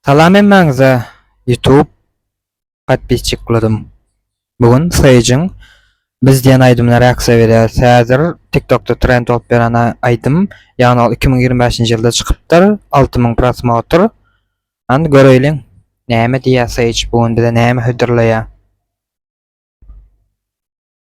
Salam hemmäňize YouTube podpisçiklerim. Bu gün Sage-iň Biz diýen aýdymyna reaksiýa berýäris. Häzir TikTokda trend bolup ýören aýdym. Ýagny ol 2025-nji ýylda çykypdyr. 6000 prosmotr. Hany göreýliň. Näme diýýär Sage bu gün bize näme hödürleýär.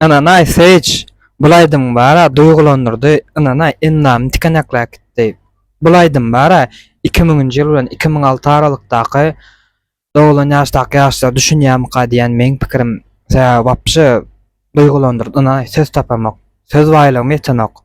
Ynanaý Sage bul aýdymyň bara duýgulandyrdy ynanaý endamy tikenekläp gitdi bul aýdym bara iki müňünji ýyl bilen iki müň alty aralykdaky doglan ýaşdaky ýaşlar düşünýärmika diýýän meň pikirim sebäbi wapşe duýgulandyrdy ynanaý söz tapamok söz baýlygym ýetenok.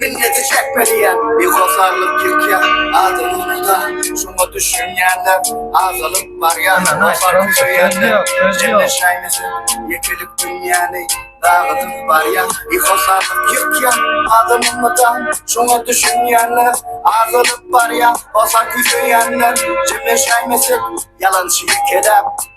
Minneti çekmeliye Bihoşarlyk çekýä Adyny unuda Şoňa düşünýänler Azalyp barýa Başaryp söýenler Ýerleşäýmese Ýekelik dünýäni Dagydyp barýa Bihoşarlyk çekýä Adyny unuda Şoňa düşünýänler Azalyp barýa Başaryp söýenler Jemleşäýmesek Ýalançy ýekeläp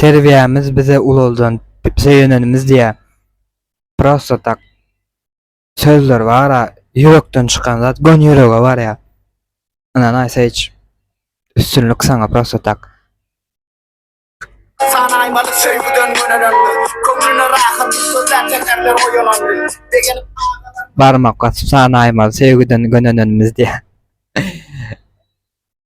Terbiýämiz bize ulaldan söýenenimiz diýä prosta tak sözler bara ýürekden çykan zat göni ýürege barýa ynan aýsa hiç üstünlik saňa prosta tak. Sanaýmaly söýgüden gönenenli Köňlüne rahat sözlär çekerler oýalanly Begenip agalar Barmak basyp sanaýmaly söýgüden gönenenimiz diýä.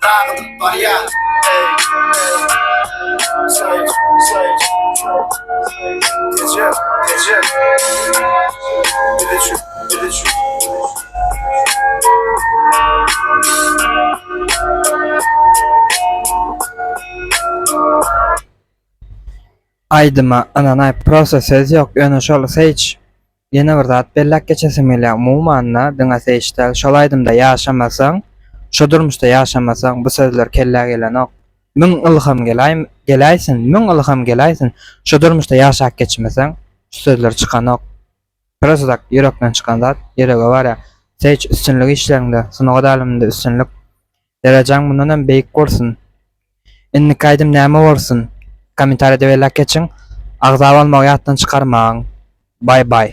Dagylyp barýar Aýdyma ynanaý prosta söz ýok ýöne şol sage Ýene bir zat belläp geçesim gelýär, umuman-da diňe Seýiş däl, şol aýdymda ýaşamasaň, şu durmuşda ýaşamasaň, bu sözler kellä gelenok. Müň ylham gelaý, geläýsin, müň ylham geläýsin, şu durmuşda ýaşap geçmeseň, şu sözler çykanok. Prosta tak ýürekden çykan zat, ýürege barýar. Seýiş üstünlik işleriňde, sungat äleminde üstünlik. Derejäň mundan hem beýik bolsun. Indiki aýdym näme bolsun? Kommentariýada belläp geçiň. Agza bolmagy ýatdan çykarmaň. Bye bye.